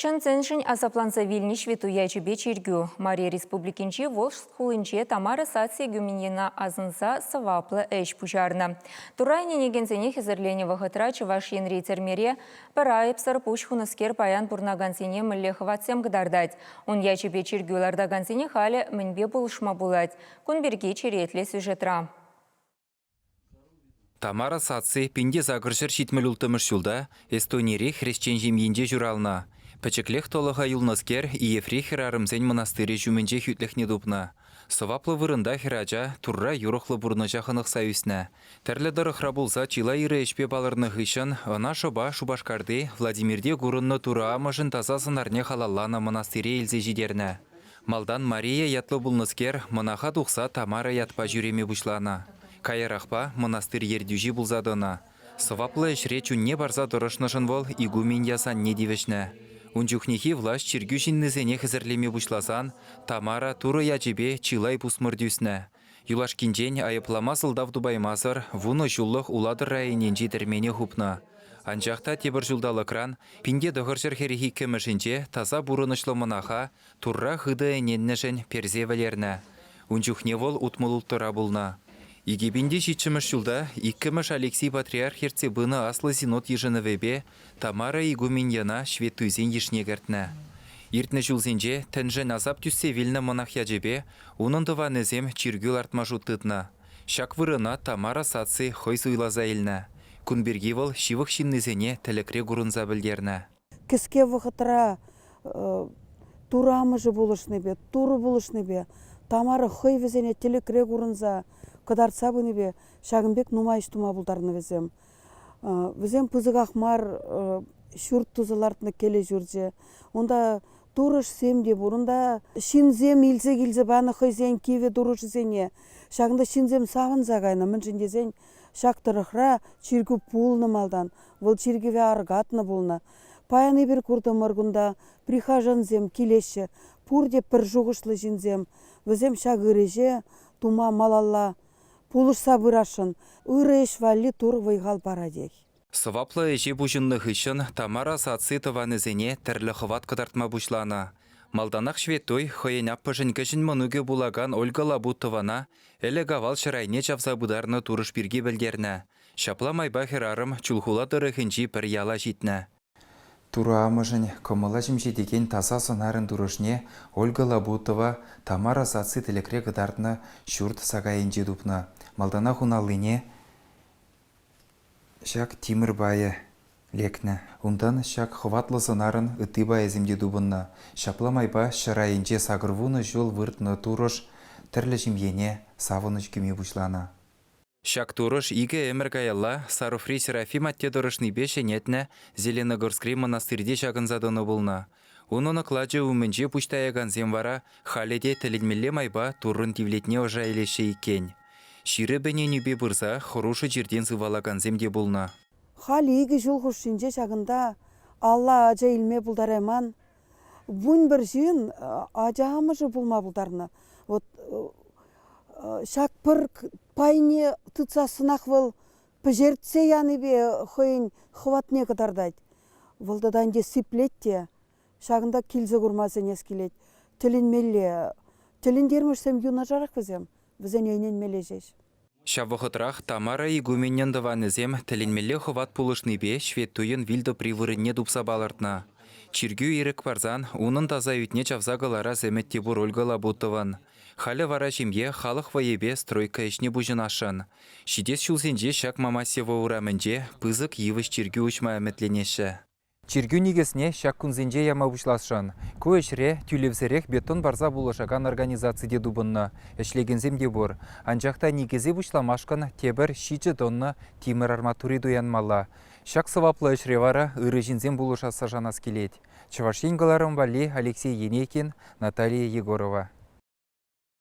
Чӑн-чӑншӗн асапланса вилнӗ ҫветтуй ячӗпе чиркӳ Мари Республикинчи Волжск хулинче Тамара саци эгуменьена асӑнса сӑваплӑ ӗҫ пуҫарнӑ. Турра ӗненекенсене хӗсӗрленӗ вӑхӑтра Чӑваш Енри тӗрмере пӗр айӑпсӑр пуҫ хунӑскер паян пурӑнакансене мӗнле хӑватсем кӑтартать. Ун ячӗпе чиркӳ лартакансене халӗ мӗнпе пулӑшма пулать? Кун пирки черетлӗ сюжетра. Тамара саци пин те сакӑр ҫӗр ҫитмӗл улттӑмӗш ҫулта Эстонири хресчен ҫемйинче ҫуралнӑ. Пӗчӗклех тӑлӑха юлнӑскер Иефри хӗрарӑмсен мӑнастырӗ ҫумӗнче хӳтлӗхне тупнӑ. Сӑваплӑ вырӑнта хӗрача Турра юрӑхлӑ пурнӑҫа хӑнӑхса ӳснӗ. Тӗрлӗ тӑрӑхра пулса чылай ырӑ ӗҫпе палӑрнӑ хыҫҫӑн ӑна шӑпа Шупашкарти Владимирте курӑннӑ Турӑ Амӑшӗн таса сӑнарне халалланӑ мӑнастыре илсе ҫитернӗ. Малтан Мария ятлӑ пулнӑскер мӑнаха тухса Тамара ятпа ҫӳреме пуҫланӑ. Каярахпа мӑнастырь ертӳҫи пулса тӑнӑ. Сӑваплӑ ӗҫре чунне парса тӑрӑшнӑшӑн вӑл игумен ясанне тивӗҫнӗ. Ун чухнехи влаҫ чиркӳ ҫыннисене хӗсӗрлеме пуҫласан Тамара Турӑ ячӗпе чылай пусмӑр тӳснӗ. Юлашкинчен айӑплама сӑлтав тупаймасӑр вунӑ ҫуллӑх Улатӑр районӗнчи тӗрмене хупнӑ. Анчах та тепӗр ҫулталӑкран пин те тӑхӑр ҫӗр хӗрӗх иккӗмӗшӗнче таса пурӑнӑҫлӑ мӑнаха Турра хытӑ ӗненнӗшӗн персе вӗлернӗ. Ун чухне вӑл утмӑлулттора пулнӑ. Икӗ пин те ҫиччӗмӗш ҫулта иккӗмӗш Алексий патриарх ертсе пынӑ аслӑ синод йышӑнӑвӗпе Тамара игуменьяна ҫветтуйсен йышне кӗртнӗ. Иртнӗ ҫулсенче тӗншӗн асап тӳссе вилнӗ мӑнах ячӗпе унӑн тӑванӗсем чиркӳ лартма шут тытнӑ. Ҫак вырӑна Тамара саци хӑй суйласа илнӗ. Кун пирки вӑл ҫывӑх ҫыннисене тӗлӗкре курӑнса пӗлтернӗ. кӗске вӑхӑтра турамӑшӗ пулӑшнипе, турӑ пулӑшнипе, Тамара хӑй вӗсене тӗлӗкре курӑнса кӑтартса пынипе ҫакӑн пек нумай ӗҫ тума пултарнӑ вӗсем. Вӗсем пысӑках мар ҫурт туса лартнӑ кӗлӗ ҫурчӗ. Унта турӑшсем те пур. Унта ҫынсем илсе килсе панӑ хӑйсен кивӗ турӑшӗсене. Ҫакӑнта ҫынсем савӑнса кайнӑ, мӗншӗн тесен Ҫак тӑрӑхра чиркӳ пулнӑ малтан, вӑл чиркӗве аркатнӑ пулнӑ. Паян эпир куртӑмӑр кунта, прихожансем килеҫҫӗ, пурте пӗр шухӑшлӑ ҫынсем. Вӗсем ҫак ыр ӗҫе тума малалла пулӑшса пырасшӑн, ырӑ ӗҫ валли Тур вӑй-хал паратех. Сӑваплӑ ӗҫе пуҫӑннӑ хыҫҫӑн Тамара саци тӑванӗсене тӗрлӗ хӑват кӑтартма пуҫланӑ. Малтанах ҫветтуй хӑйӗн аппӑшӗн кӗҫӗн мӑнукӗ пулакан Ольга Лабутована ӗлӗк-авал ҫӗр айне чавса пытарнӑ турӑш пирки пӗлтернӗ. Ҫапла майпа хӗрарӑм Чулхула тӑрӑхӗнчи пӗр яла ҫитнӗ. Турӑ амӑшӗн кӑмӑла ҫемҫетекен таса сӑнарӗн турӑшне Ольга Лабутова Тамара саци тӗлӗкре кӑтартнӑ ҫурт сакайӗнче тупнӑ. Малтанах ун аллине Ҫак тимӗр пайӗ лекнӗ. Унтан ҫак хӑватлӑ сӑнарӑн ытти пайӗсем те тупӑннӑ. Ҫапла майпа ҫӗр айӗнче сакӑр вунӑ ҫул выртнӑ турӑш тӗрлӗ ҫемьене савӑнӑҫ кӳме пуҫланӑ. Ҫак турӑш икӗ ӗмӗр каялла Саруфри Серафим атте тӑрӑшнипе ҫӗнетнӗ Зеленогорскри мӑнастырьте ҫакӑнса тӑнӑ пулнӑ. Унӑн оклачӗ умӗнче пуҫ таякансем вара халӗ те тӗлӗнмелле майпа Туррӑн тивлетне ӑша илеҫҫӗ иккен. Ҫирӗп ӗненӳпе пырса хӑрушӑ чиртен сывалакансем те пулнӑ. Халӗ икӗ ҫул хушшинче ҫакӑнта алла ача илме пултарайман вунпӗр ҫын ача амӑшӗ пулма пултарнӑ. Вӑт ҫак пӗр пайне тытсассӑнах вӑл пӗҫертсе янипе хӑйӗн хӑватне кӑтартать. Вӑл тата ӗнтӗ сиплет те ҫакӑнта килсе курма сӗнес килет. Тӗлӗнмелле тӗлӗнтермӗшсем юнашарах вӗсем, вӗсене ӗненмелле ҫеҫ. Ҫав вӑхӑтрах Тамара игуменӗн тӑванӗсем тӗлӗнмелле хӑват пулӑшнипе ҫветтуйӑн вил тӑпри вырӑнне тупса палӑртнӑ чиркӳ ирӗк парсан унӑн таса ӳтне чавса кӑларас ӗмӗт те пур Ольга Лабутован. Халӗ вара ҫемье халӑх вӑйӗпе стройка ӗҫне пуҫӑнасшӑн. Ҫитес ҫулсенче ҫак Мамасево урамӗнче пысӑк йывӑҫ чиркӳ уҫма ӗмӗтленеҫҫӗ. Чиркӳ никӗсне ҫак кунсенче яма пуҫласшӑн. Ку ӗҫре тӳлевсӗрех бетон парса пулӑшакан организаци те тупӑннӑ, ӗҫлекенсем те пур. Анчах та никӗсе пуҫламашкӑн тепӗр ҫичӗ тонна тимӗр арматури туянмалла. Ҫак сӑваплӑ ӗҫре вара ырӑ ҫынсем пулӑшасса шанас килет. Чӑваш Ен кӑларӑм валли Алексей Енейкин, Наталия Егорова.